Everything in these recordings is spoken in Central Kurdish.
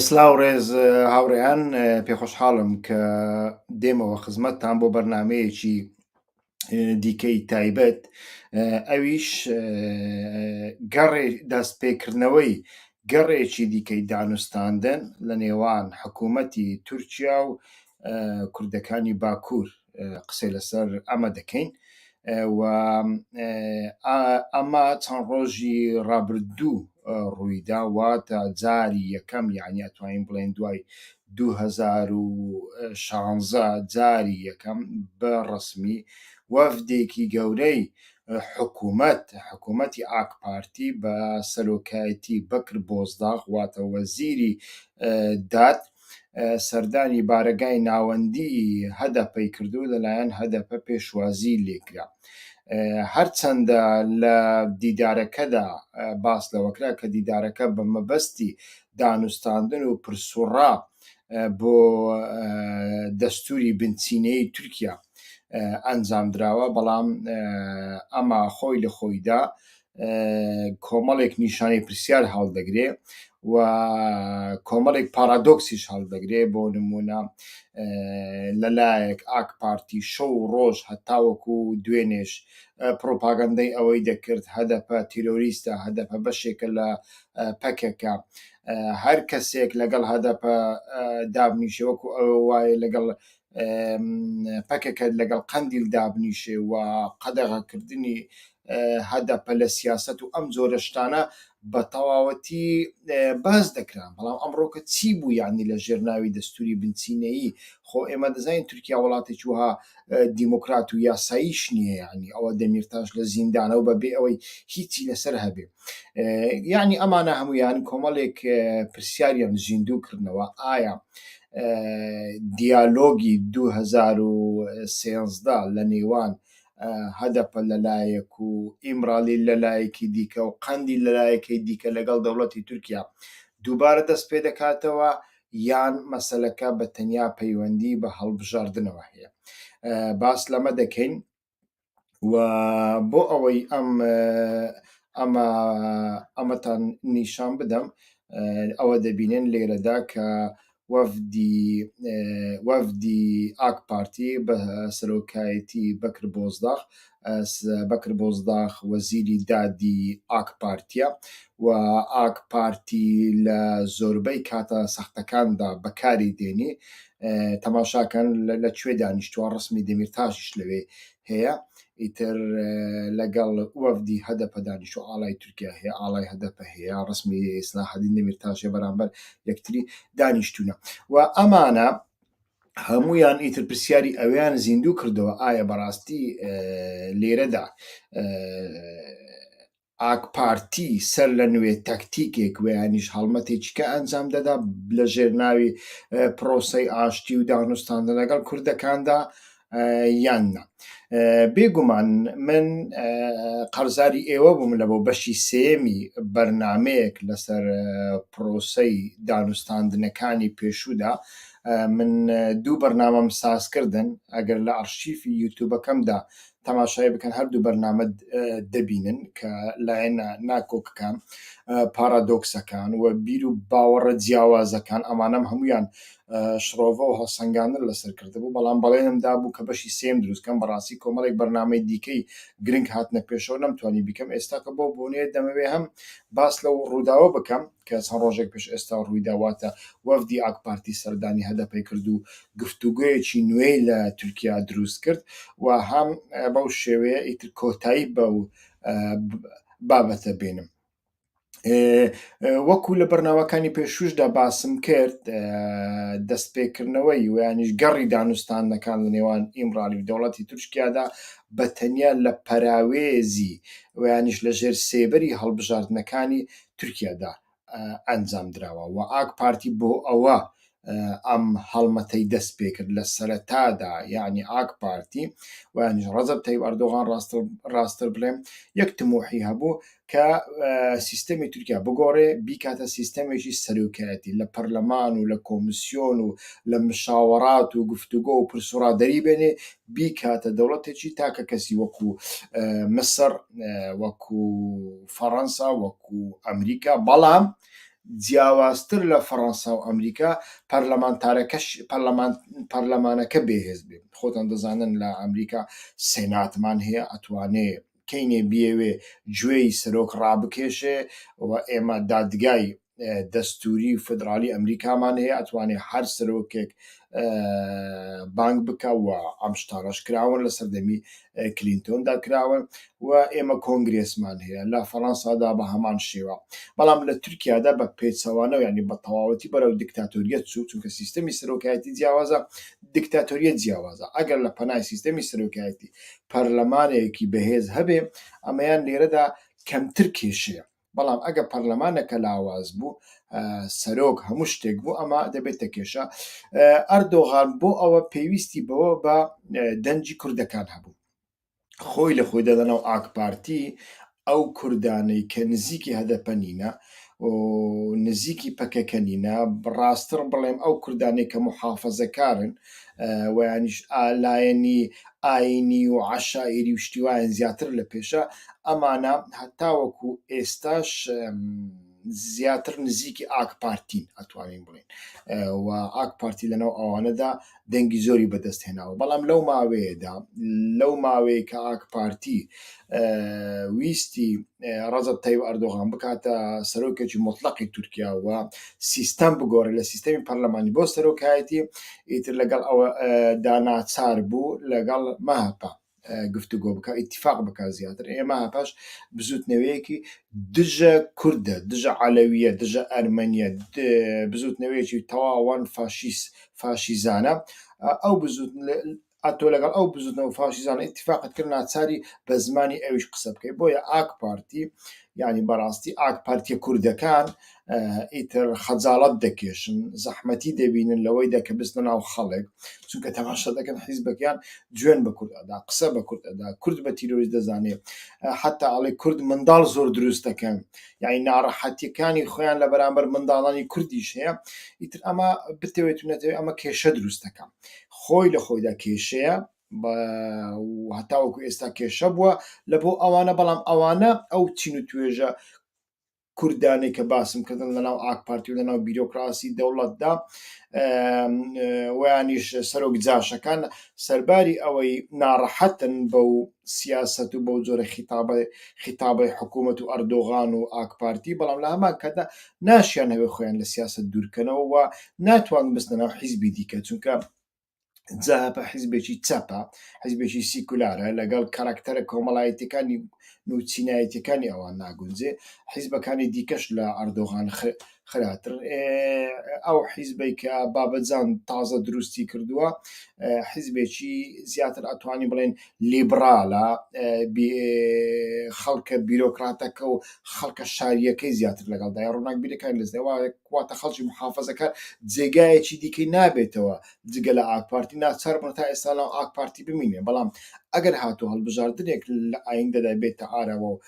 سلااو ڕێز هاوڕێیان پێخۆشحاڵم کە دێمەوە خزمەتتان بۆ بەرنمەیەکی دیکەی تایبەت ئەویش گەڕێ دەستپێکردنەوەی گەڕێکی دیکەی دانوستاندن لە نێوان حکوومەتی تورکیا و کوردەکانی باکوور قسەی لەسەر ئەمە دەکەین و ئەمە چەند ڕۆژی ڕابردوو ڕوویدا واتە جاری یەکەم یعنی ئەتوانین بڵێن دوای 2016 جاری یەکەم بە ڕسمی وەفدێکی گەورەی حکوومەت حکوومەتی ئاک پارتی بە سەرۆکایەتی بەکر بۆزداغ واتە وەزیری داد سەردانی بارەگای ناوەندی هەدەپەی کردو لەلایەن هەدەپە پێشوازی لێکرا هەرچەندە لە دیدارەکەدا باس لەوەکرا کە دیدارەکە بە مەبەستی دانوستاندن و پرسوڕا بۆ دەستوری بنچینەی تورکیا ئەنجام دراوە بەڵام ئەما خۆی لە خۆیدا کۆمەڵێک نیشانەی پرسیار هەڵدەگرێ و کۆمەڵێک پارادۆکسیش هەڵدەگرێ بۆ نمونە لەلایەک ئاک پارتی شەو و ڕۆژ هەتاوەکو و دوێنێش پرۆپاگەندەی ئەوەی دەکرد هەدەپە تیرۆریستە هەدەپە بەشێکە لە پەکەکە هەر کەسێک لەگەڵ هەدەپە دابنیشەوەکو ئەوە وایە لەگەڵ پەکەکە لەگەڵ قەندیل دابنیشێ و قەدەغەکردنی هەدەپە لە سیاسەت و ئەم جۆرە شتانە بە تەواوەتی باس دەکران بەڵام ئەمڕۆکە چی بوو یعنی لە ژێر ناوی دەستوری بنچینەیی خۆ ئێمە دەزانین تورکیا وڵاتێکی وها دیموکرات و یاساییش نییە یعنی ئەوە دەمیرتاش لە زیندانەوە بەبێ ئەوەی هیچی لەسەر هەبێ یعنی ئەمانە هەمویان کۆمەڵێک پرسیاریان زیندوو کردنەوە ئایا دیالۆگی 2013 لە نێوان هەدەپە لەلایەک و ئیمرالی لەلایەکی دیکە و قەندی لەلایەکەی دیکە لەگەڵ دەوڵەتی تورکیا دووبارە دەست پێ دەکاتەوە یان مەسلەکە بە تەنیا پەیوەندی بە هەڵبژاردنەوە هەیە باس لەمە دەکەین و بۆ ئەوەی ئەم ئەمە ئەمەتان نیشان بدەم ئەوە دەبینێن لێرەدا کە وەفدی وەفدی ئاک پارتی بە سەرۆکایەتی بەکر بۆزداخ بەکر بۆزداخ وەزیری دادی ئاک پارتیە و ئاک پارتی لە زۆربەی کاتە سەختەکاندا بەکاری دێنی تەماشاکەن لە کوێ دانیشتووە ڕسمی دەمیرتاشیش لەوێ هەیە ئیتر لەگەڵ وەفدی هەدەپە دانیشتو ئاڵای تورکیا هەیە ئاڵای هەدەپە هەیە ڕسمی ئیسلاحدین دەمیرتاشێ بەرامبەر یەکتری دانیشتونە و ئەمانە هەمویان ئیتر پرسیاری ئەویان زیندوو کردەوە ئایا بەڕاستی لێرەدا ئاکپارتی سەرلەنوێ تەکتیکێک و یانیش هەڵمەتێکیکە ئەنجام دەدا لە ژێر ناوی پرۆسەی ئاشتی و دانوستاندن لەگەڵ کوردەکاندا یان نا بێگومان من قەرزاری ئێوە بووم لە بۆ بەشی سێمی بەرنمەیەک لەسەر پرۆسەی دانوستاندنەکانی پێشوودا من دوو بەرنامەم سازکردن ئەگەر لە ئەرشیفی یوتوبەکەمدا تەماشای بکەن هەردوو بەرنامە دەبینن کە لایەنە ناکۆکەکان پارادۆکسەکان و بیر و باوەڕە جیاوازەکان ئەمانم هەمویان شڕۆڤە و هەڵسەنگاندن لەسەر کردبوو بەڵام بەڵێنم دابوو کە بەشی سێم دروستکەم بەڕاستی کۆمەڵێک بەرنامەی دیکەی گرنگ هاتنە پێشەوە نەمتوانی بیکەم ئێستا کە بۆ بۆنێ دەمەوێ هەم باس لەو ڕووداوە بکەم کە چەند ڕۆژێک پێش ئێستا ڕوویدا، واتە وەفدی ئاکپارتی سەردانی هەدەپەی کرد و گفتوگۆیەکی نوێی لە تورکیا دروست کرد و هەم بەو شێوەیە ئیتر کۆتایی بەو بابەتە بێنم. وەکو لە بەرنامەکانی پێشووشدا باسم کرد دەستپێکردنەوەی ویانیش گەڕی دانوستانەکان لە نێوان ئیمڕالی و دەوڵەتی تورکیادا بە تەنیا لە پەراوێزی ویانیش لە ژێر سێبەری هەڵبژاردنەکانی تورکیادا ئەنجامدراوە و ئاک پارتی بۆ ئەوە ئەم هەڵمەتەی دەست پێکرد لە سەرەتادا یعنی ئاک پارتی ویانش ڕزب تەیب ئەردۆغان ڕاستتر بڵێم یەک تمۆحی هەبوو کە سیستەمی تورکیا بگۆڕێ بیکاتە سیستەمێکی سەرۆکایەتی لە پەرلەمان و لە کۆمسیۆن و لە مشاوەڕات و گفتوگۆ و پرسوڕادەری بێنێ بیکاتە دەوڵەتێکی تاکە کەسی وەکو مسر وەکو فەڕەنسا وەکو ئەمریکا، بەڵام جیاوازتر لە فەڕەنسا و ئەمریکا پەرلەمانتارەکەش پەرلەمان پەرلەمانەکە بێهێز بێ خۆتان دەزانن لە ئەمریکا سێناتمان هەیە ئەتوانێ کەینێ بیەوێ گوێی سەرۆک ڕابکێشێ و ئێمە دادگای دەستوری و فدرالی ئەمریکامان هەیە ئەتوانێ هەر سەرۆکێک بانگ بکە و ئەم شتانەش کراون لە سەردەمی کلینتۆندا کراون و ئێمە کۆنگرێسمان هەیە لە فەڕەنسادا بە هەمان شێوە بەڵام لە تورکیادا بە پێچەوانە و ینی بە تەواوەتی بەرەو دیکتاتۆریەت چوو چونکە سیستەمی سەرۆکایەتی جیاوازە دیکتاتۆریەت جیاوازە ئەگەر لە پەنای سیستەمی سەرۆکایەتی پەرلەمانێکی بەهێز هەبێ ئەمەیان لێرەدا کەمتر کێشەیە بەڵام ئەگە پەرلەمانەکە لاواز بوو سەرۆک هەموو شتێک بوو ئەمە دەبێتە کێشە ئەردۆغان بۆ ئەوە پێویستی بەوە بە دەنجی کوردەکان هەبوو خۆی لە خۆی دەدەنەوە ئاکپارتی ئەو کوردانەی کە نزیکی هەدەپە نینە نزیکی پەکەکە نینە بڕاستڕ بڵێم ئەو کوردانەی کە محافەزەکارن ویانیش ئالایەنی ئاینی و عەشایری و شتی وایان زیاتر لە پێشە ئەمانە هەتاوەکو ئێستاش زیاتر نزیکی ئاک پارتین ئەتوانین بڵێن و ئاک پارتی لەناو ئەوانەدا دەنگی زۆری بەدەست هێناوە بەڵام لەو ماوەیەدا لەو ماوەیە کە ئاک پارتی ویستی ڕزب تەیب ئەردۆغان بکاتە سەرۆکێکی مطلقی تورکیا و سیستەم بگۆڕێت لە سیستەمی پەرلەمانی بۆ سەرۆکایەتی ئیتر لەگەڵ ئەوە دا ناچار بوو لەگەڵ مەهەپە گفتوگۆ بکە ئیتفاق بکە زیاتر ئێمە پاش بزوتنەوەیەکی دژە کوردە دژە عەلەویە دژە ئەرمەنیە بزوتنەوەیەکی تەواوان فاشیس فاشیزانە ئەو بزوت ئەتۆ لەگەڵ ئەو بزوتنەوە فاشیزانە ئیتفاقت کرد ناچاری بە زمانی ئەویش قسە بکەی بۆیە ئاک پارتی یعنی بەڕاستی ئاک پارتیە کوردەکان ئیتر خەجاڵت دەکێشن زەحمەتی دەبینن لەوەی دەکە بستە ناو خەڵک چونکە تەماشا دەکەن حیزبەکەیان جوێن بە کورد ئەدا قسە بە کورد ئەدا کورد بە تیرۆریست دەزانێت حتا ئەڵێ کورد منداڵ زۆر دروست دەکەن یعنی ناڕەحەتیەکانی خۆیان لە بەرامبەر منداڵانی کوردیش هەیە ئیتر ئەمە بتەوێت نەتەوێت ئەمە کێشە دروست دەکەم خۆی لە خۆیدا کێشەیە و هەتاوەکو ئێستا کێشە بووە لە بۆ ئەوانە بەڵام ئەوانە ئەو چین و توێژە کوردانەی کە باسم کردن لە ناو ئاک پارتی و لە ناو بیرۆکراسی دەوڵەتدا ویانیش سەرۆک جاشەکان سەرباری ئەوەی ناڕەحەتن بە و سیاست و بەو جۆرە خیتابە خیتابی حکوومەت و ئەردۆغان و ئاک پارتی بەڵام لە هەمان کەدا ناشیانەوێت خۆیان لە سیاسەت دوورکەنەوە و ناتوانن بستنە ناو حیزبی دیکە چونکە جەهەپە حیزبێکی چەپە حیزبێکی سیکولارە لەگەڵ کاراکتەرە کۆمەڵایەتەکانی نوچینایەتەکانی ئەوان ناگونجێ حیزبەکانی دیکەش لە ئەردۆغان خراتر ئەو حیزبەی کە بابەجان تازە دروستی کردووە حیزبێکی زیاتر ئەتوانی بڵێن لیبڕالە، خەڵکە بیرۆکراتەکە و خەڵکە شارییەکەی زیاتر لەگەڵدایە، ڕووناکبیرەکان لەزیاتر وایە، واتە خەڵکی موحافەزەکار جێگایەکی دیکەی نابێتەوە جگە لە ئاکپارتی، ناچاربوونە تا ئێستا لەناو ئاکپارتی بمینێ، بەڵام ئەگەر هاتوو هەڵبژاردنێک لە ئایندەدا بێتە ئاراوە و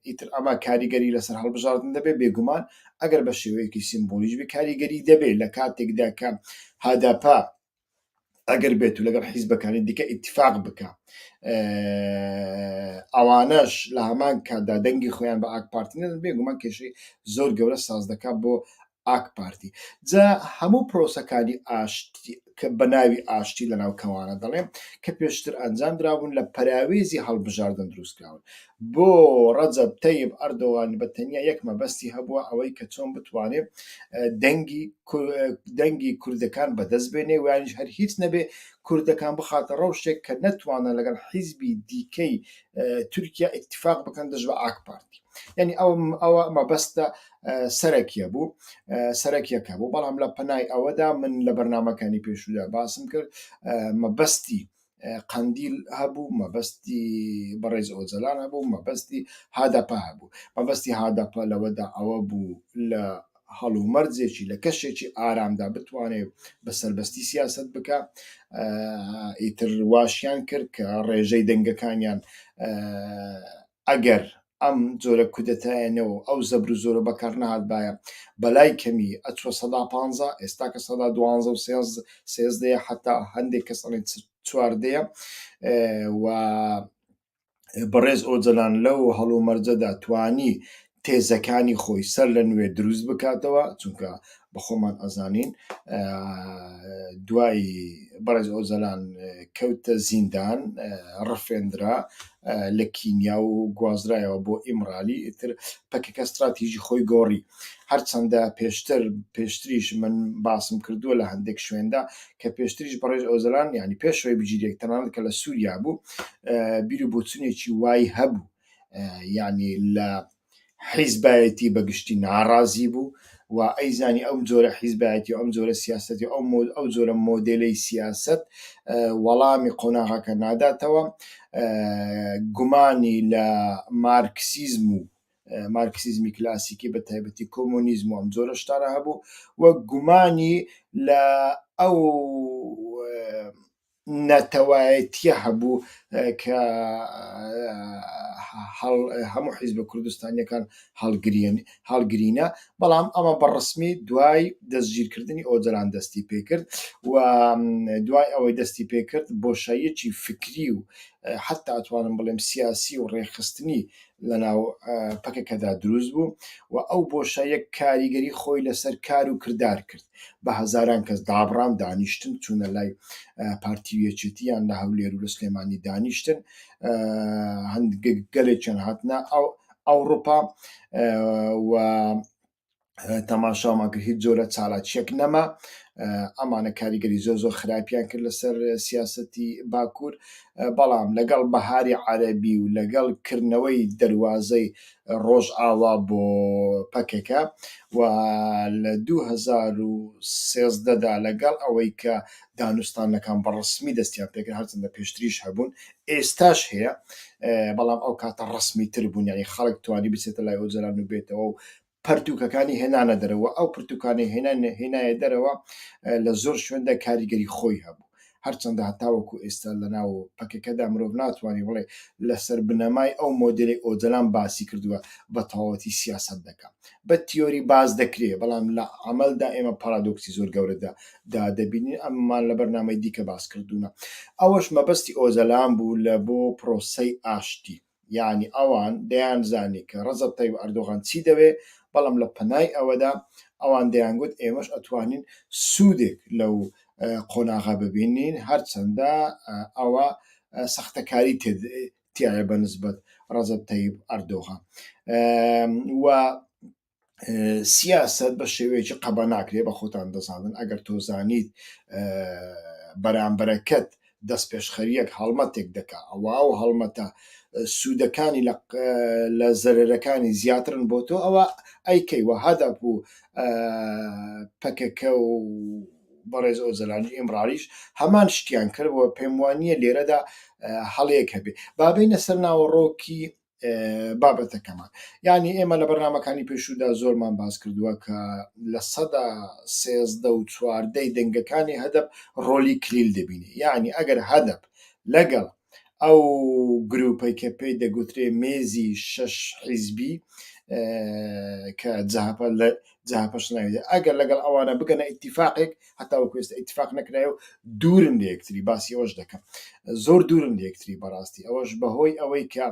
ئیتر ئەمە کاریگەری لەسەر هەڵبژاردن دەبێ، بێگومان ئەگەر بە شێوەیەکی سیمبولیش بێ کاریگەری دەبێ لە کاتێکدا کە هەدەپە، ئەگەر بێت و لەگەڵ حیزبەکانی دیکە ئیتفاق بکە ئەوانەش لە هەمان کاتدا دەنگی خۆیان بە ئاک پارتی نەدەن بێگومان کێشەی زۆر گەورە ساز دەکات بۆ ئاک پارتی جا هەموو پرۆسەکانی ئاشتی کە بە ناوی ئاشتی لە ناوکەوانە دەڵێم کە پێشتر ئەنجام درابوون لە پەراوێزی هەڵبژاردن دروستکراون بۆ ڕەجەب تەیب ئەردۆغان بە تەنیا یەک مەبەستی هەبووە ئەوەی کە چۆن بتوانێ دەنگی دەنگی کوردەکان بەدەست بێنێ ویانیش هەر هیچ نەبێ کوردەکان بخاتە ڕەوشێک کە نەتوانە لەگەڵ حیزبی دیکەی تورکیا ئیتفاق بکەن دژ بە ئاک پارتی یعنی ئەو ئەوە مەبەستە سەرەکیە بوو سەرەکیەکە بوو بەڵام لە پەنای ئەوەدا من لە بەرنمەکانی پێشودا باسم کرد مەبەستی قەندیل هەبوو مەبەستی بەڕێز ئۆجەلان هەبوو مەبەستی هادەپە هەبوو مەبەستی هادەپە لەوەدا ئەوە بوو لە هەڵومەرجێکی لە کەشێکی ئارامدا بتوانێت بە سربەستی سیاست بکە ئیتر واشیان کرد کە ڕێژەی دەنگەکانیان ئەگەر ئەم جۆرە کودەتایەنە و ئەو زەبر و زۆرە بەکار نەهاتبایە، بەلای کەمی ئەچووە سەدا پانزە، ئێستا کە سەدا دوانزە و سێزدەیە، حەتا هەندێک کەس ئەڵێن چواردەیە و بەڕێز ئۆجەلان لەو هەڵومەرجەدا توانی تێزەکانی خۆی سەر لە نوێ دروست بکاتەوە چونکە بە خۆمان ئەزانین دوای بەڕێز ئۆزەلان کەوتە زیندان ڕفێنرا لە کینیا و گوازرایەوە بۆ ئیمرالی ئیتر پەکەکە استراتیژی خۆی گۆڕی هەرچەندە پێشتر پێشتریش من باسم کردووە لە هەندێک شوێندا کە پێشتریش بەڕێژ ئۆزلان ینی پێشەوەی بگیرێک تەنان کە لە سووریا بوو بیرو بۆچونێکی وای هەبوو یانی لە حیزبایەتی بەگشتی ناڕازی بوو و ئەیزانی ئەم جۆرە حیزبایەتی ئەم جۆرە سیاستی ئەو ئەو جۆرە مۆدلەی سیاست وەڵامی قۆناغەکە ناداتەوە گومانی لە مارکسیزم و مارکسیزمی کلاسیکی بە تایبەتی کۆمۆنیزم و ئەم جۆرە شتانە هەبوو و گومانی لە ئەو ناتەوایەتیە هەبوو کە هەموو حیزبە کوردستانیەکان هەڵگرینە بەڵام ئەمە بە ڕسمی دوای دەستگیرکردنی ئۆجەلان دەستی پێکرد و دوای ئەوەی دەستی پێکرد بۆشاییەکی فکری و حتا ئەتوانم بڵێم سیاسی و ڕێخستنی لەناو پەکەکەدا دروست بوو و ئەو بۆشاییە کاریگەری خۆی لەسەر کار و کردار کرد، بە هەزاران کەس دابڕان، دانیشتن، چوونە لای پارتی و یەکێتی، یان لە هەولێر و لە سلێمانی دانیشتن، گەلێکیان هاتنە ئەوڕوپا و تەماشامان کرد هیچ جۆرە چالاکیەک نەما ئەمانە کاریگەری زۆر زۆر خراپیان کرد لەسەر سیاستی باکوور بەڵام لەگەڵ بەهاری عەربی و لەگەڵ کردنەوەی دەواازەی ڕۆژ ئاوا بۆ پەکەکە و لە 2013دا لەگەڵ ئەوەی کە دانوستانەکان بەڕسمی دەستیان پێکرد هەرچنددە پێشتریش هەبوون ئێستاش هەیە بەڵام ئەو کاتە ڕەسمی تر بوون یانی خەڵک توانی بچێتە لای ئۆجەلان و بێتەوە و پەرتوکەکانی هێنانە دەرەوە ئەو پرتوکانی هێنان هێنایە دەرەوە لە زۆر شوێندا کاریگەری خۆی هەبوو هەرچەندە هەتاوەکو ئێستا لەناو پەکەکەدا مرۆڤ ناتوانانی بڵێ لەسەر بنەمای ئەو مۆدلی ئۆجەلان باسی کردووە بە تەواوەتی سیاست دەکەم بە تیۆری باز دەکرێ بەڵام لە عملدا ئێمە پارادۆکسی زۆر گەورەدا دا دەبینین ئەمەمان لە بەرنامەی دیکە باس کردوونە ئەوەش مەبەستی ئۆجەلان بوو لە بۆ پرۆسەی ئاشتی یعنی ئەوان دەیان زانی کە ڕەزە تەیب ئەردۆغان چی دەوێ بەڵام لە پەنای ئەوەدا ئەوان دەیان گوت ئێمەش ئەتوانین سوودێک لەو قۆناغا ببینین هەرچەندە ئەوە سەختەکاری تایە بە نسبەت ڕەزە تەیب ئەردۆغان و سیاست بە شێوەیەکی قەبە ناکرێ بە خۆتان دەزانن ئەگەر تۆزانیت بەرامبەرەکەت دەست پێشخەریەک هەڵمەتێک دەکا ئەوە و هەڵمەتە سوودەکانی لە زەرەرەکانی زیاترن بۆ تۆ ئەوە ئەیکەی وە هەدەپ و پەکەکە و بەڕێز ئۆزەلانی ئێمڕاریش هەمان شتیان کردەوە پێم وانە لێرەدا هەڵەیەک هەبێ بابینە سەر ناوەڕۆکی بابەتەکەمان یعنی ئێمە لە بەرنمەکانی پێشودا زۆرمان باس کردووە کە لە سەدا سێزدە و چواردەی دەنگەکانی هەدەب ڕۆلی کلیل دەبینی یعنی ئەگەر هەدەب لەگەڵ ئەو گروپەی کە پێی دەگوترێ مێزی شش حیزبی کە جاپە لە جاپەش ناوێت ئەگەر لەگەڵ ئەوانە بگەنە ئیتیفاقێک هەتا وەکو ئێستا ئیتفاق نەکرایە و دوورن لە یەکتری باسی ئەوەش دەکەم زۆر دوورن لە یەکتری بەڕاستی ئەوەش بەهۆی ئەوەی کە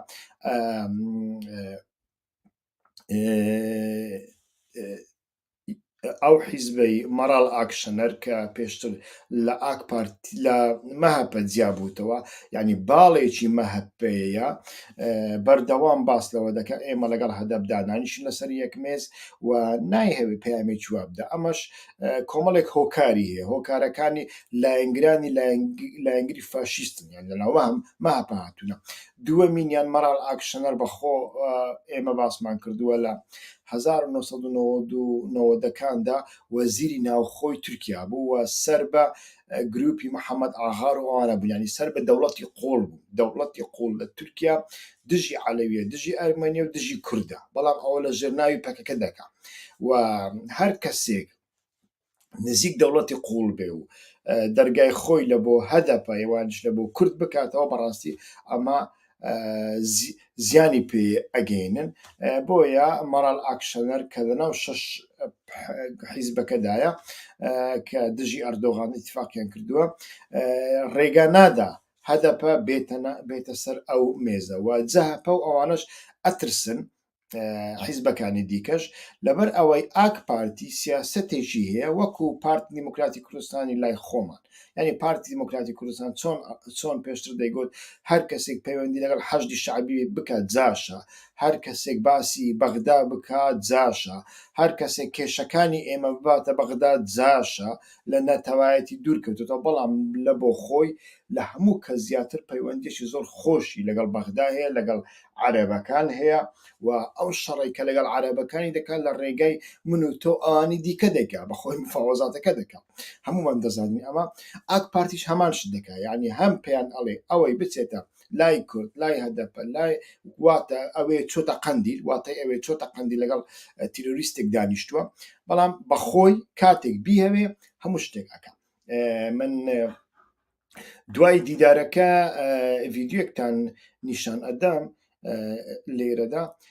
ئەو حیزبەی مەراڵ ئاکشەنەر کە پێشتر لە ئاک پارت لە مەهەپە جیابووتەوە ینی باڵێکی مەهەپەیە بەردەوام باس لەوە دەکە ئێمە لەگەڵ هەدەبدانانیشن لەسەر یەکمێز و نایهەوێ پامێکی وابدا ئەمەش کۆمەڵێک هۆکاری هەیە هۆکارەکانی لایەنگرانی لایەنگری فاشیستن یان لەناوە هەم ماپە هاتوونە دووەمینیان مەراڵ ئاکشنەر بەخۆ ئێمە باسمان کردووە لە 1992دەکاندا وەزیری ناوخۆی تورکیا بوو و سەر بە گروپی محەممەد ئاغار و ئەوانە بوونانی سەر بە دەوڵەتی قۆڵ بوو دەوڵەتی قۆڵ لە تورکیا دژی عەلەویە دژی ئەرمەنیە و دژی کوردە بەڵام ئەوە لە ژێر ناوی پەکەکە دەکا و هەر کەسێک نزیک دەوڵەتی قوڵ بێ و دەرگای خۆی لە بۆ هەدەپە ئێوانش لە بۆ کورد بکاتەوە بەڕاستی ئەمە زیانی پێ ئەگەینن بۆیە مەڕال ئاکشەنەر کە لە ناو شش حیزبەکەدایە کە دژی ئەردۆغان اتفاقیان کردووە ڕێگا نادا هەدەپە بێتەنە بێتە سەر ئەو مێزە وە جەهەپە و ئەوانەش ئەترسن حیزبەکانی دیکەش لەبەر ئەوەی ئاک پارتی سیاستێکی هەیە وەکو پارت دیموکراتی کوردستانی لای خۆمان ینی پارتی دیموکراتی کوردستان چۆن چۆن پێشتر دەیگوت هەر کەسێک پەیوەندی لەگەڵ حەشدی شعبی بکات جاشە هەر کەسێک باسی بەغدا بکات جاشە هەر کەسێک کێشەکانی ئێمە بباتە بەغدا جاشە لە نەتەوایەتی دوور کەوتۆتەوە، بەڵام لە بۆ خۆی لە هەموو کەس زیاتر پەیوەندیەکی زۆر خۆشی لەگەڵ بەغدا هەیە، لەگەڵ عەرەبەکان هەیە و ئەو شەڕەی کە لەگەڵ عەرەبەکانی دەکا لە ڕێگای من و تۆ ئەوانی دیکە دەکا، بە خۆی مفاوەزاتەکە دەکا. هەموومان دەزانین ئەمە. ئاک پارتیش هەمان شت دەکا. یانی هەم پێیان ئەڵێ ئەوەی بچێتە لای کورد لای هەدەپە لای واتە ئەوێ چۆتە قەندیل واتای ئەوێ چۆتە قەندی لەگەڵ تیرۆریستێک دانیشتووە بەڵام بەخۆی کاتێک بیهوێ هەموو شتێک ئەەکە من دوای دیدارەکە ڤیددیوەکتان نیشان ئەدەم لێرەدا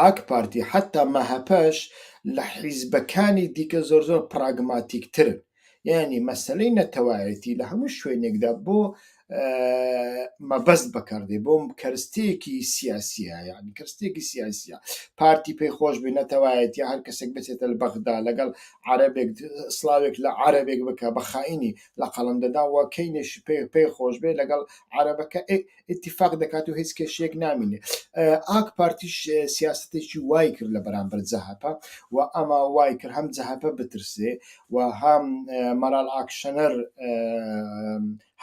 ئاکپارتی حەتا مەهەپەش لە حیزبەکانی دیکە زۆر زۆر پراگماتیک ترن یانی مەسەلەی نەتەوایەتی لە هەموو شوێنێکدا بۆ مەبەست بەکاردێ بۆم کەرستەیەکی سیاسیە یعنی کەستێکی سیاسیە پارتی پێی خۆش بێ نەتەوایەتی هەر کەسێک بچێتە بەغدا لەگەڵ عربێک سلااوێک لە عربێک بکە بە خاینی لە قەڵم دەدا وەکەینێش پێ پێی خۆش بێ لەگەڵ عربەکە اتفاق دەکات و هیچ کێشەیەک نامینێ ئاک پارتیش سیاستێکی وای کرد لە بەرامبەر جەهپە و ئەما وای کرد هەم جەهپە بترسێ و هەم مەرال ئاکشەنەر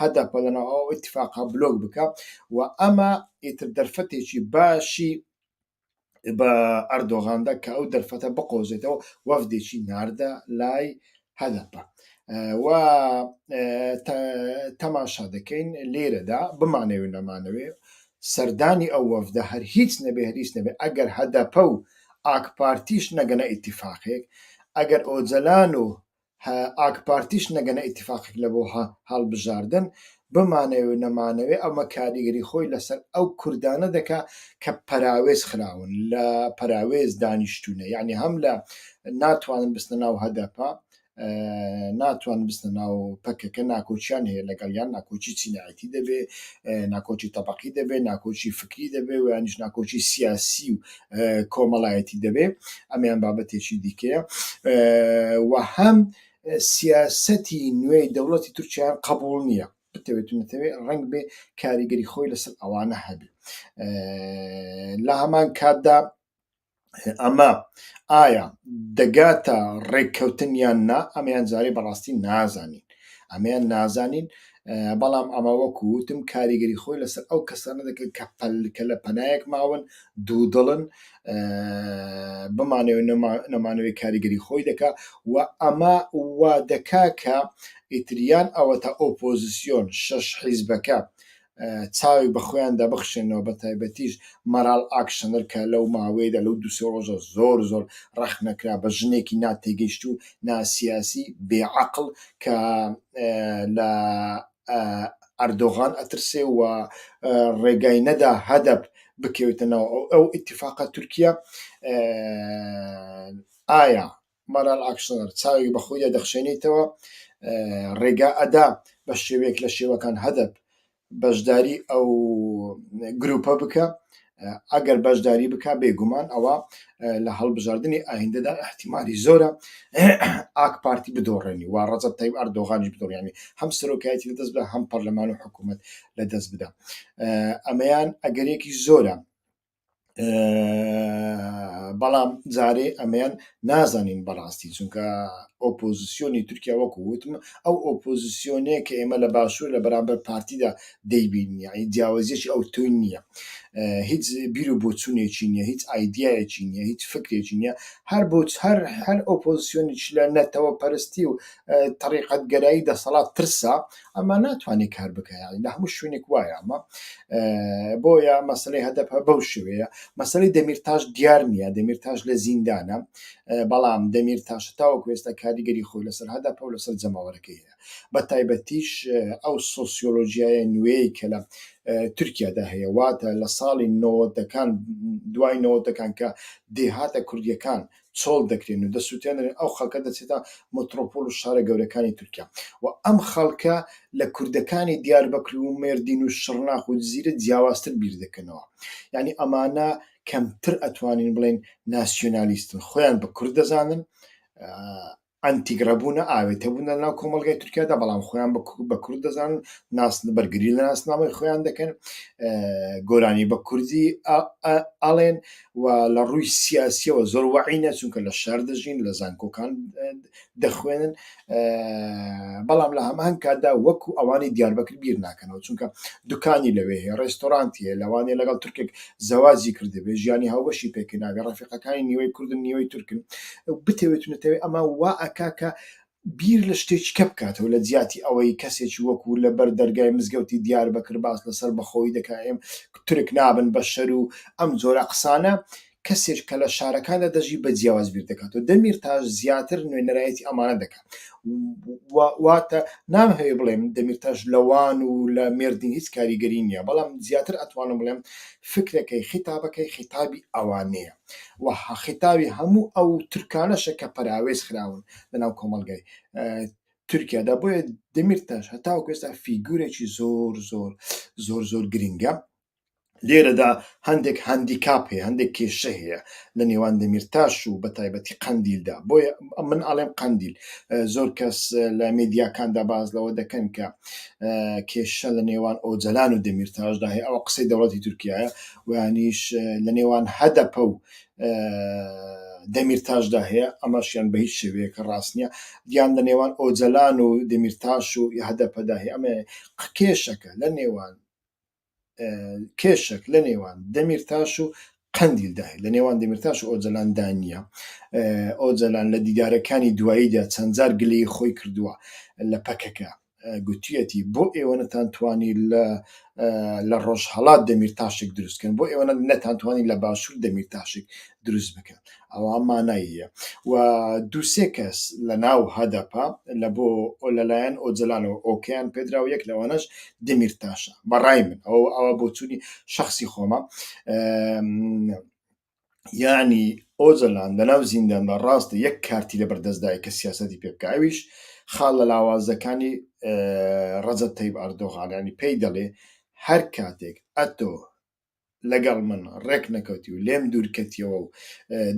هەدەپە لەناو ئەو اتفاقا بلۆک بکە و ئەمە ئیتر دەرفەتێکی باشی بە ئەردۆغاندا کە ئەو دەرفەتە بقۆزێتەوە وەفدێکی ناردە لای هەدەپە و تەماشا دەکەین لێرەدا بمانەوێ نەمانەوێ سەردانی ئەو وەفدە هەر هیچ نەبێ هەریش نەبێ ئەگەر هەدەپە و ئاکپارتیش نەگەنە ئیتیفاقێک ئەگەر ئۆجەلان و هە ئاکپارتیش نەگەنە ئیتیفاقێک لە بۆ هە هەڵبژاردن، بمانەوێ و نەمانەوێ ئەمە کاریگەری خۆی لە سەر ئەو کوردانە دەکا کە پەراوێز خراون لە پەراوێز دانیشتوونە یانی هەم لە ناتوانن بچنە ناو هەدەپە ناتوان بستە ناو پەکەکە ناکۆچیان هەیە لەگەڵیان ناکۆچی چینایەتی دەبێ ناکۆچی تەبقی دەبێ ناکۆچی فکری دەبێ ویانش ناکۆچی سیاسی و کۆمەڵایەتی دەبێ ئەمیان بابەتێکی دیکەیە و هەم سیاستی نوێی دەوڵەتی تورکیان قبول نییە بتەوێت و نتەوێ ڕنگ بێ کاریگەری خۆی لەسەر ئەوانە هەبی لە هەمان کاتدا ئەمە ئایا دەگاتە ڕێککەوتن یان نا ئەمیان جارێ بەڕاستی نازانین ئەمیان نازانین بەڵام ئەمە وەکو وتم کاریگەری خۆی لەسەر ئەو کەسانە دەکرد کە پەلکە لە پەنایەک ماون دوو دڵن بمانەوە نەمانەوەی کاریگەری خۆی دەکا و ئەمە وا دەکا کە ئیتریان ئەوە تا ئۆپۆزیسیۆن شەش حیزبەکە چاوی بە خۆیان دەبخشێنەوە بە تایبەتیش مەراڵ ئاکشنەر کە لەو ماوەیەدا لەو دوسێ ڕۆژە زۆر زۆر ڕەخنەکرا بە ژنێکی ناتێگەیشت و ناسیاسی بێ عەقڵ کە لە ئەردۆغان ئەترسێ و ڕێگای نەدا هەدەپ بکەوێتە ناو ئەو ئەو ئیتیفاقە تورکیە ئایا مارال ئاکشنەر چاوێک بە خۆیدا دەخشێنیتەوە ڕێگا ئەدا بە شێوەیەک لە شێوەکان هەدەپ بەشداری ئەو گروپە بکە ئەگەر بەشداری بکە بێگومان ئەوە لە هەڵبژاردنی ئایندەدا احتیممالی زۆرە ئاک پارتی بدۆڕێنی وا ڕەزب تای ئەردۆغانیش بدۆڕیانی هەم سەرۆکایەتی لە دەست بە هەم پەرلەمان و حکوومەت لە دەست بدا ئەمەیان ئەگەرێکی زۆرە بەڵام جارێ ئەمەیان نازانین بەڕاستی چونکە ئۆپۆزیسیۆنی تورکیا وەکو وتم ئەو ئۆپۆزیسیۆنێ کە ئێمە لە باشوور لە بەرامبەر پارتیدا دەیبین یعنی جیاوازیەکی ئەو توی نییە هیچ بیر و بۆچوونێکی نییە هیچ ئایدیایەکی نییە هیچ فکرێکی نییە هەر بۆ هەر هەر ئۆپۆزیسیۆنیش لە نەتەوە پەرستی و تەریقەت گەرایی دەسەڵات ترسا ئەمە ناتوانێت کار بکەیان لە هەموو شوێنێک وایە ئەمە بۆیە مەسلەی هەدەپە بەو شوەیە مەسلەی دەمیرتاش دیار نییە دەمیرتاش لە زیندانە بەڵام دەمیر تاش تاوە کوێستا کاریگەری خۆی لەسەر هەدەپە و لەسەر جەماوەەکەی هەیە بە تایبەتیش ئەو سۆسیۆلۆژیایە نوێی کە لە تورکیادا هەیە واتە لە ساڵی نەوەتەکان دوای نەوەتەکان کە دێهاتە کوردیەکان چۆڵ دەکرێن و دەسوتێنرێن ئەو خەڵکە دەچێتە مترۆپۆل و شارە گەورەکانی تورکیا و ئەم خەڵکە لە کوردەکانی دیاربەکر و مێردین و شڕناخ و جزیرە جیاوازتر بیر دەکەنەوە یانی ئەمانە کەمتر ئەتوانین بڵێن ناسیۆنالیستن خۆیان بە کورد دەزانن ئەنتیگرە بوونە، ئاوێتە بوون لە ناو کۆمەڵگای تورکیادا، بەڵام خۆیان بە کورد دەزانن، ناسن بەرگری لە ناسنامەی خۆیان دەکەن، گۆرانی بە کوردی ئەڵێن و لە ڕووی سیاسیەوە زۆر وەعینە چونکە لە شار دەژین لە زانکۆکان دەخوێنن بەڵام لە هەمان کاتدا وەکو ئەوانی دیاربەکر بیر ناکەنەوە چونکە دوکانی لەوێ هەیە ڕێستۆرانتی هەیە لەوانەیە لەگەڵ تورکێک زەواجی کردبێ ژیانی هاوبەشی پێکردابێ ڕەفیقەکانی نیوەی کوردن نیوەی تورکن بتەوێت و نەتەوێت ئەما وا ئەکا کە بیر لە شتێکی کە بکاتەوە لە جیاتی ئەوەی کەسێکی وەکو لە بەر دەرگای مزگەوتی دیار بەکر باس لەسەر بەخۆوی دەکا ئێم تورک نابن بە شەر و ئەم جۆرە قسانە کەسێک کە لە شارەکاندا دەژی بە جیاواز بیر دەکاتەوە دەمیرتاش زیاتر نوێنەرایەتی ئەمانە دەکا. واتە نام هەیە بڵێم دەمیرتاش لەوان و لە مردین هیچ کاریگەری نییە بەڵام زیاتر ئەتوانم بڵێم فکرەکەی خیتابەکەی خیتابی ئەوانەیە و خیتاوی هەموو ئەو ترکانەشە کە پەراوێز خراون لەناو کۆمەلگای تورکیادا بۆیە دەمیرتاش هەتاو کوێستا فیگورێکی زۆر زۆر زۆر زۆر گرنگە لێرەدا هەندێک هەندیکاپ هەیە هەندێک کێشە هەیە لە نێوان دەمیرتاش و بە تایبەتی قەندیلدا بۆیە من ئاڵێم قەندیل زۆر کەس لە مدیاکاندا باز لەوە دەکەن کە کێشە لە نێوان ئۆجلان و دەمیرتاشدا هەیە ئەوە قسەی دەوڵەتی تورکایە وانیش لە نێوان هەدەپە و دەمیرتاشدا هەیە ئەمەشیان بە هیچ شێوەیە کە ڕاست نییە دیان لە نێوان ئۆجلان و دەمیرتاش و هەدەپەدا هەیە ئەمە قکێشەکە لە نێوان کێشک لە نێوان دەمیرتاش و قەندیلدا هەیە لە نێوان دەمیرتاش و ئۆجەلاندا نییە ئۆجەلان لە دیدارەکانی دواییدا چەندجار گلەی خۆی کردووە لە پەکەکە گوتیەتی بۆ ئێوە نەتانتوانی لە لە ڕۆژهڵات دەمیر تاشێک دروستکەن بۆ ئێوە نەتانتوانی لە باشوور دەمیر تاشێک دروست بکەن ئەوە مانای یە و دوو سێ کەس لە ناو هەدەپە لە بۆ ئۆ لەلایەن ئۆجەلانەوە ئۆکەیان پێدرا و یەک لەوانەش دمیرتاشە بە ڕای من ئەوە ئەوە بۆچوونی شەخسی خۆمە یانی ئۆجەلان لە ناو زینداندا ڕاستە یەک کارتی لە بەردەستدای کە سیاسەتی پێ بکە ئەویش خاڵ لە لاوازەکانی ڕەجەب تەیب ئەردۆغانانی پێی دەڵێ هەر کاتێک ئەتۆ لەگەڵ من ڕێک نەکەوتی و لێم دوورکەتیەوە و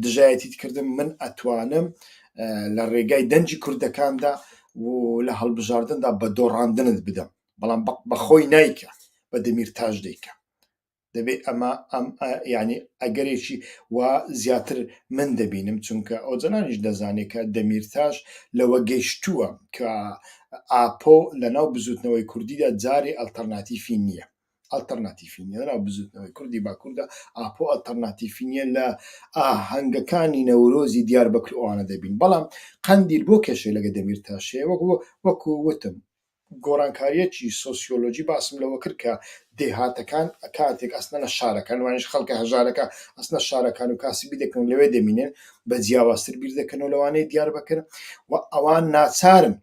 دژایەتیت کردم من ئەتوانم لە ڕێگای دەنجی کوردەکاندا و لە هەڵبژاردندا بە دۆڕاندنت بدەم بەڵام بەخۆی نایکە بە دەمیر تاش دەیکە دەبێ ئەمە ئەم ینی ئەگەرێکی و زیاتر من دەبینم چونکە ئەو جەنانیش دەزانێت کە دەمیرتاش لەوە گەیشتووە کە ئاپۆ لە ناو بزوتنەوەی کوردیدا جارێ ئەلتەرناتیفی نییە ئەلتەرناتیفی نیە لەناو بزوتنەوەی کوردی باکوردا، ئاپۆ ئەلتەرناتیفی نیە لە ئاهەنگەکانی نەورۆزی دیاربەکر ئەوانە دەبین، بەڵام قەندیل بۆ کێشەی لەگە دەمیرتاش هەیە وەک وەکو وتم گۆڕانکاریەکی سۆسیۆلۆجی باسم لەوە کرد کە دێهاتەکان کاتێک ئەچنە شارەکان وانیش خەڵکە هەژارەکە ئەچنە شارەکان و کاسبی دەکەن لەوێ دەمینێن بە جیاوازتر بیر دەکەنەوە لەوانەی دیاربەکر و ئەوان ناچارن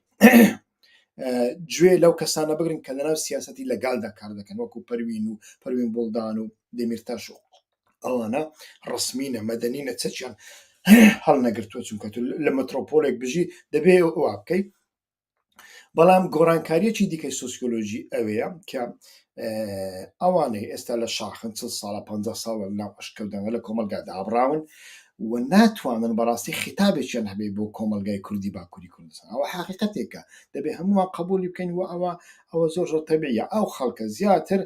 گوێ لەو کەسانە بگرن کە لەناو سیاستی لەگالدا کار دەکەن وەکو پەروین و پەروین بڵدان و دەمیرتاش و ئەوانە ڕسمینە مەدەنی نەچەچیان هەڵ نەگرتووە چونکە لە مەترۆپۆلێک بژی دەبێ وا بکەیت بەڵام گۆڕانکاریەکی دیکەی سوسیۆلۆژی ئەوەیە کە ئەوانەی ئێستا لە شاخن چل ساڵە پ ساڵ لە ناو ئەشکەوتەوە لە کۆمەلگا دابڕاون و ناتوانن بەڕاستی خیتابێکیان هەبێ بۆ کۆمەلگای کوردی باکووری کوردستان ئەوە حقیقەتێکە دەبێ هەمووان قبولی بکەین و ئەوە ئەوە زۆر زۆر تەبیە ئەو خەڵکە زیاتر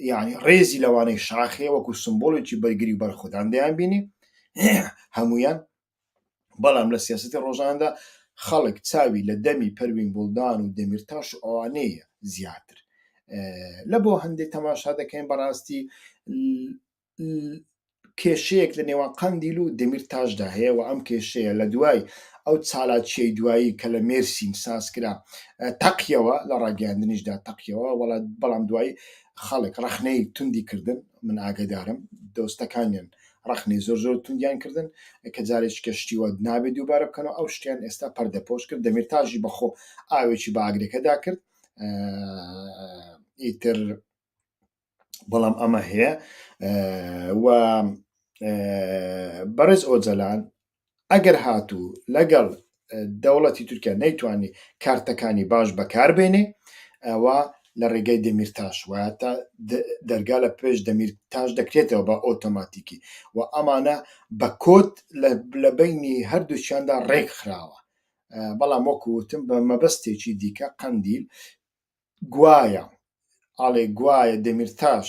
یعنی ڕێزی لەوانەی شاخێ وەکو سمبۆڵێکی بەرگری بەرخودان دەیان بینی هەمویان بەڵام لە سیاسەتی ڕۆژانەدا خەڵک چاوی لە دەمی پەروین بوڵدان و دەمیرتاش و ئەوانەیە زیاتر لە بۆ هەندێک تەماشا دەکەین بەڕاستی کێشەیەک لە نێوان قندیل و دەمیر تاشدا هەیە و ئەم کێشەیە لە دوای ئەو چالاچیی دوایی کە لە مێرسین سازکرا تەقیەوە لە ڕاگەاندنیشدا تەقیەوە وڵات بەڵام دوایی خەڵک ڕخنەی توندی کردن من ئاگەدارم دۆستەکانیان ڕەخنەی زۆر زۆر توندیان کردن کە جارێکی کەشتیوە نابێت دووبارە بکەنەوە ئەو شتیان ئێستا پەردەپۆش کرد دەمیرتاژی بەخۆ ئاوێکی باگرەکەدا کرد ئیتر بەڵام ئەمە هەیە و بەڕێز ئۆجەلان ئەگەر هاتوو لەگەڵ دەوڵەتی تورکیا نەیتوانی کارتەکانی باش بەکاربێنێ ئەوە لە ڕێگەی دەمیر تاش وایە تا دەرگا لە پێش دەمیر تاش دەکرێتەوە بە ئۆتۆماتیکی و ئەمانە بە کۆت لە بینی هەردووچیاندا ڕێک خراوە بەڵام وەکووتم بە مەبەستێکی دیکە قەندیل گوایە ئاڵێ گوایە دەمیرتاش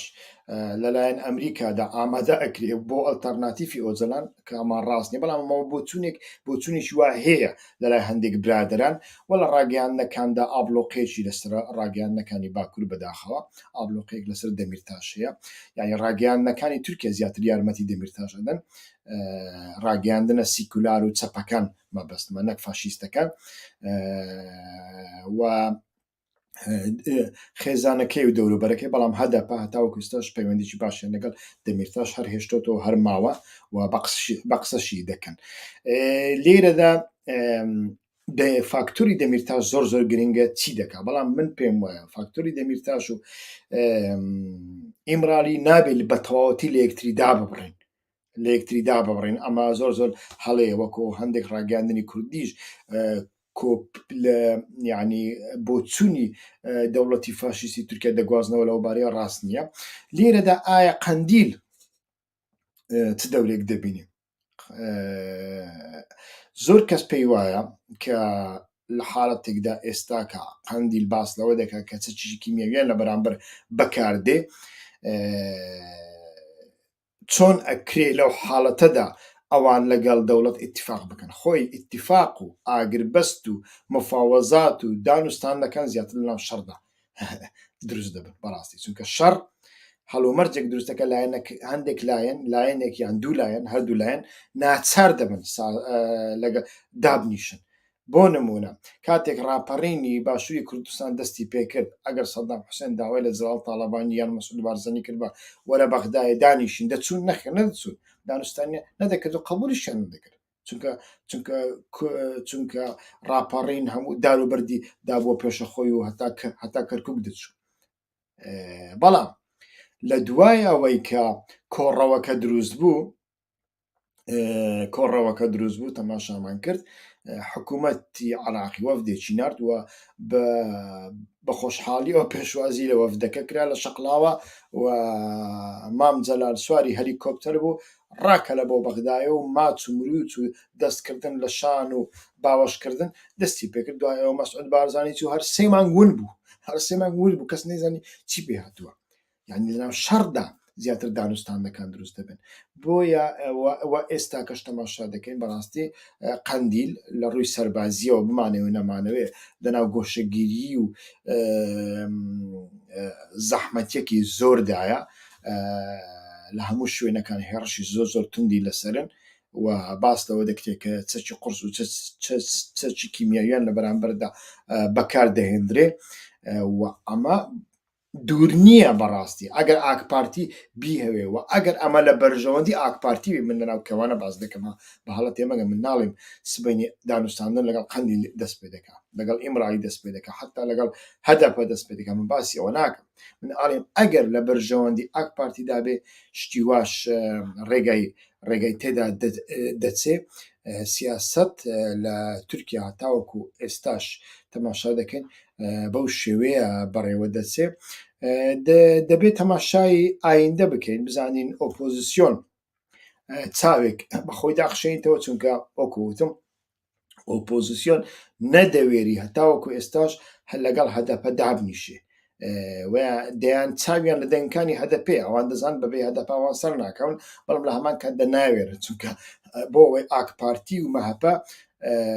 لەلایەن ئەمریکادا ئامادە ئەکرێ بۆ ئەلتەرناتیفی ئۆجەلان کەمان ڕاست نیە بەڵام ئەمەوە بۆچوونێک بۆچوونیش وا هەیە لەلای هەندێک برادران و لە ڕاگەیاندنەکاندا ئابلۆقێکی لەسەر ڕاگەیاندنەکانی باکوور بەداخەوە ئابلۆقێک لەسەر دەمیرتاش هەیە یعنی ڕاگەیاندنەکانی تورکیا زیاتر یارمەتی دەمیرتاش ئەدەن ڕاگەیاندنە سیکولار و چەپەکان مەبەستمە نەک فاشیستەکان و خێزانەکەی و دەوروبەرەکەی بەڵام هەدەپە هەتاوەکو ئستاش پەیوەندیی باشیان لەگەڵ دەمیرتاش هەر هێشتۆتەوە هەر ماوە و بە قسەشی دەکەن لێرەدا فاکتوری دەمیرتاش زۆر زۆر گرنگە چی دەکا بەڵام من پێم وایە فاکتوری دەمیرتاش و ئیمرالی نابێت بە تەواوەتی لە یەکتری دابڕین لە یەکتری دابڕین ئەمە زۆر زۆر هەڵەیە وەکۆ هەندێک ڕاگەاندنی کوردیش کۆپ لە یعنی بۆچوونی دەوڵەتی فاشیستی تورکیا دەگوازنەوە لەوبارەیە ڕاست نییە لێرەدا ئایا قەندیل چ دەورێک دەبینی زۆر کەس پێی وایە کە لە حاڵەتێکدا ئێستاکە قەندیل باس لەوە دەکات کە چ چیشی کیمیاویان لە بەرامبەر بەکاردێ چۆن ئەکرێ لەو حاڵەتەدا ئەوان لەگەڵ دەوڵەت ئیتیفاق بکەن خۆی ئیتیفاق و ئاگربەست و مفاوەزات و دان و ستانەکان زیاتر لەناو شەڕدا دروست دەبن بەڕاستی چونکە شەڕ هەڵومەرجێک دروستەکە لایەنەک هەندێک لایەن لایەنێکیان دوو لایەن هەردوو لایەن ناچار دەبن لەگە دابنیشن بۆ نموونە کاتێک ڕاپەڕینی باشووری کوردستان دەستی پێ کرد، ئەگەر سەدام حوسێن داوای لە جەلال تاڵەبانی یان مەسعود بارزانی کردبا وەرە بەغدایێ دانیشین، دەچوون؟ نەخێر نەدەچوون، دانوستانیان نەدەکرد و قەبوولیشیان نەدەکرد، چونکە چونکە چونکە ڕاپەڕین هەموو دار و بەردی دابووە پێشە خۆی و هەتا هەتا کەرکووک دەچوو. بەڵام لە دوای ئەوەی کە کۆڕەوەکە دروست بوو، کۆڕەوەکە دروست بوو تەماشامان کرد حکوومەتی عراقی وەفدێکی نردووە بە خۆشحاڵیەوە پێشوازی لە وەفدەکە کرا لە شەقلاوە و مام جەلال سواری هەلیکۆپتەر بوو ڕاکە لە بۆ بەغدایە و ماچ و مروچ و دەستکردن لە شان و باوەشکردن دەستی پێکرد دوایەوە مەسعود بارزانانی و هەر سێمان ون بوو هەر سێمان ون بوو کەس نەیزانی چی پێ هاتووە یانی لەناو شەڕدا زیاتر دانوستاندەکان دروست دەبن بۆیە ئەوە ئێستا کەش تەماشا دەکەین بەڕاستی قەندیل لە ڕووی سەربازیەوە بمانەوە نەمانەوێ لەناو گۆشەگیری و زەحمەتەکی زۆردایە لە هەموو شوێنەکان هێڕشی زۆر زۆر توندی لەسەرن و باس لەوە دەکرێت کە چەکی قرس و چەکی کیمیاویان لە بەرامبەردا بەکار دەهێندرێ و ئەمە دوور نییە بەڕاستی ئەگەر ئاکپارتی بیهەوێ و ئەگەر ئەمە لە بەرژەوەندی ئاکپارتی بێ، من لەناو کەوانە باس دەکەم ها، بە هەڵە تێ مەگەن، من ناڵیم سبەینێ دانوستاندن لەگەڵ قەندیل دەست پێ دەکا، لەگەڵ ئیمرالی دەست پێ دەکا، حەتتا لەگەڵ هەدەپە دەست پێ دەکا، من باسی ئەوە ناکەم، من ئەڵیم ئەگەر لە بەرژەوەندی ئاکپارتی دا بێ شتی واش ڕێگای ڕێگای تێدا دەچێ، سیاسەت لە تورکیا هەتاوەکوو ئێستاش تەماشا دەکەین بەو شێوەیە بەڕێوە دەچێ دەبێت تەماشای ئایندە بکەین بزانین ئۆپۆزیسیۆن چاوێک بەخۆی داخشێنیتەوە چونکە ئۆکوتم ئۆپۆزیسیۆن نەدەوێری هەتاوەکو ئێستاش هەر لەگەڵ هەدەپە دابنیشێ دەیان چاویان لە دەنگکانی هەدەپێ ئەوان دەزان بەبێ هەدەپاوان سەر ناکەون بەڵام لە هەمان کات دەناوێرە چونکە بۆ ئەوەی ئاک پارتی و مەهەپە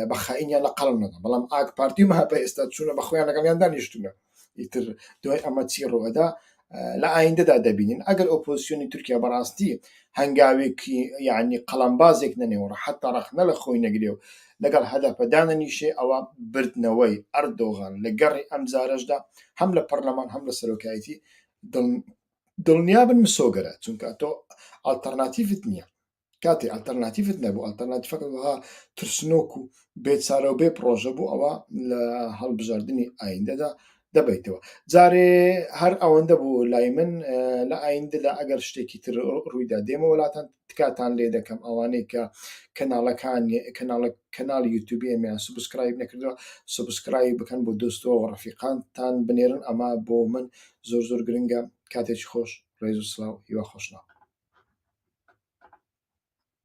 بە خائینیان لە قەڵم نەدا بەڵام ئاک پارتی و مەهەپە ئێستا چوونە بە خۆیان لەگەڵیان دانیشتونە ئیتر دوای ئەمە چی ڕوەدا لە ئایندەدا دەبینین ئەگەر ئۆپۆزیسیۆنی تورکیا بەڕاستی هەنگاوێکی یعنی قەڵمبازێک نەنێوە حتا ڕەخنە لە خۆی نەگرێ و لەگەڵ هەدەپەدانە نیشێ ئەوە بردنەوەی ئەردۆغان لە گەڕی ئەم جارەشدا هەم لە پەرلەمان هەم لە سەرۆکایەتی دڵنیابن مسۆگەرە چونکە تۆ ئەلتەرناتیفت نییە کاتێ ئەلتەرناتیفت نەبوو ئەلتەرناتیفەکە وەها ترسنۆک و بێچارە و بێ پرۆژە بوو ئەوە لە هەڵبژاردننی ئایندەدا دەبیتەوە جارێ هەر ئەوەندە بوو لای من لە ئایندەدا ئەگەر شتێکی تر ڕوویدا دێمە وڵاتان تکاتان لێ دەکەم ئەوانەی کە کەناڵەکان کەناڵە کەناڵ یوتوبیمیان سبسکرایب نەکردوە سبسکرای بکەن بۆ دۆستەوە ڕفیقانتان بنێرن ئەمە بۆ من زۆر زۆر گرنگە کاتێکی خۆش ڕێز و سڵاو هیوا خۆشناو.